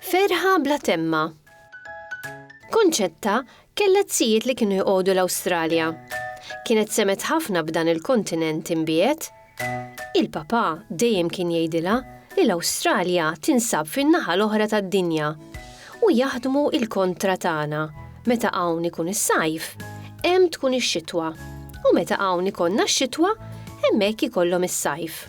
Ferħa bla temma. Konċetta kellet sijiet li kienu jqogħdu l-Awstralja. Kienet semet ħafna b'dan il-kontinent imbiet Il-Papà dejjem kien jgħidilha li l-Awstralja tinsab fin-naħa l-oħra tad-dinja u jaħdmu l-kontra tagħna, meta hawn ikun is-sajf, hemm tkun ix-xitwa, u meta hawn ikollna x-xitwa, hemmhekk ikollhom is-sajf.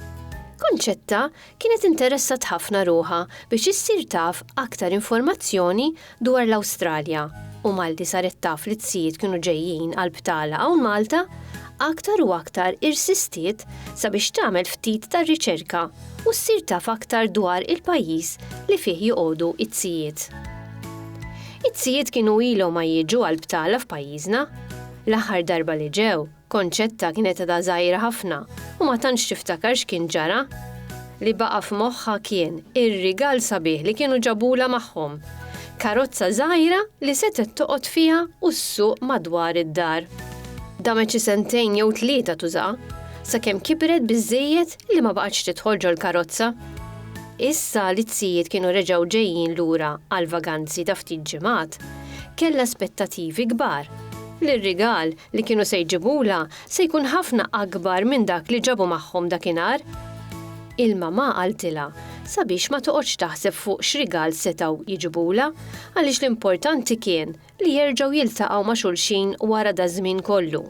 Concetta kienet interessat ħafna ruħha biex issir taf aktar informazzjoni dwar l-Awstralja u malli saret taf li t-tzijiet kienu ġejjin għall-btala hawn Malta, aktar u aktar irsistiet sabiex tagħmel ftit ta' riċerka u ssir taf aktar dwar il-pajjiż li fih joqogħdu t-tzijiet. It-tzijiet kienu ilhom ma jiġu għall-btala f'pajjiżna. L-aħħar darba li ġew, Concetta kienet għadha żgħira ħafna u ma tantx tiftakar x'kien ġara. Li baqa' f'moħħha kien ir-rigal sabiħ li kienu ġabulha magħhom, karozza żgħira li setgħet toqgħod fiha u ssuq madwar id-dar. Damet xi sentejn jew tlieta tużaha, sakemm kibret biżżejjed li ma baqgħetx tidħol ġol-karozza. Issa li t-tzijiet kienu reġgħu ġejjin lura għall-vaganzi ta' ftit ġimgħat, kellha aspettativi kbar li r-rigal li kienu se jġibulha se jkun ħafna akbar minn dak li ġabu magħhom dakinhar. Il-mamà qaltilha sabiex ma toqgħodx taħseb fuq x'rigal setgħu jġibulha għaliex l-importanti kien li jerġgħu jiltaqgħu ma' xulxin wara daż-żmien kollu.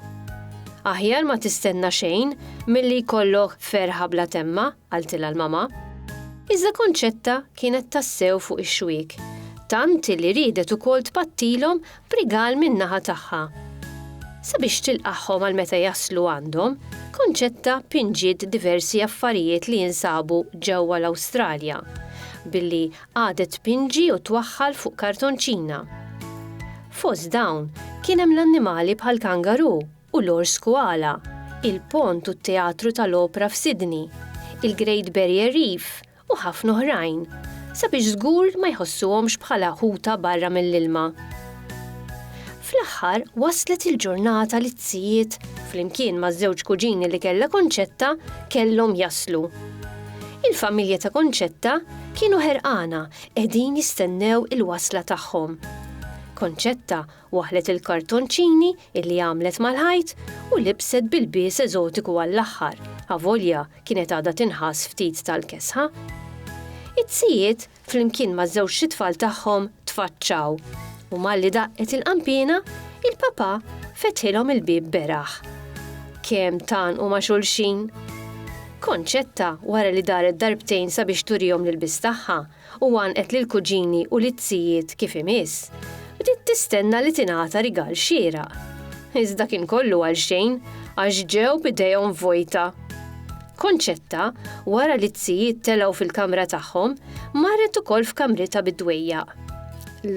Aħjar ma tistenna xejn milli jkollok ferħa bla temma, qaltilha l-mamà. Iżda Konċetta kienet tassew fuq ix-xwiek, tant li riedet ukoll tpattilhom b'rigal min-naħa tagħha. Sabiex tilqagħhom għal meta jaslu għandhom, Concetta pinġiet diversi affarijiet li jinsabu ġewwa l-Awstralja, billi qagħdet tpinġi u twaħħal fuq kartonċina. Fost dawn kien hemm l-annimali bħall-kangaru u l-ors koala, il-pont u t-Teatru tal-Opra f'Sydney, il-Great Barrier Reef u ħafna oħrajn, sabiex żgur ma jħossuhomx bħala ħuta barra mill-ilma. Fl-aħħar waslet il-ġurnata li t-tijiet, flimkien maż-żewġ kuġini li kellha Concetta, kellhom jaslu. Il-familja ta' Concetta kienu ħerqana qegħdin jistennew il-wasla tagħhom. Concetta Waħlet il-kartonċini illi għamlet mal-ħajt u libset b'ilbies eżotiku għall-aħħar, avolja kienet għadha tinħass ftit tal-kesħa. It-tzijiet, flimkien maż-żewġt itfal tagħhom, tfaċċaw, u malli daqqet il-qanpiena, il-papà fetħilhom il-bieb beraħ. Kemm tgħannqu ma' xulxin! Konċetta, wara li daret darbtejn sabiex turihom l-ilbies tagħha, u għannqet lill-kuġini u liz-zijiet kif imiss, bdiet tistenna li tingħata rigal xieraq. Iżda kien kollu għalxejn, għax ġew b'idejhom vojta. Concetta, wara li z-zijiet telgħu fil-kamra tagħhom, marret ukoll f'kamritha bid-dwejjaq.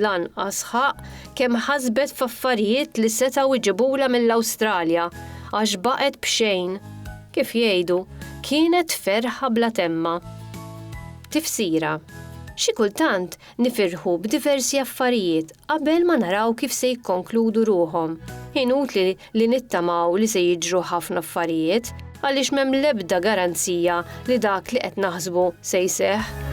Lanqas ħaqq kemm ħasbet f'affarijiet li setgħu jġibulha mill-Awstralja, għax baqgħet b'xejn. Kif jgħidu, kienet ferħa bla temma. Tifsira, Xi kultant nifirħu b'diversi affarijiet qabel ma naraw kif se jikkonkludu ruħhom. Inutli li nittamaw li se jiġru ħafna affarijiet, għaliex m'hemm l-ebda garanzija li dak li qed naħsbu se jseħħ.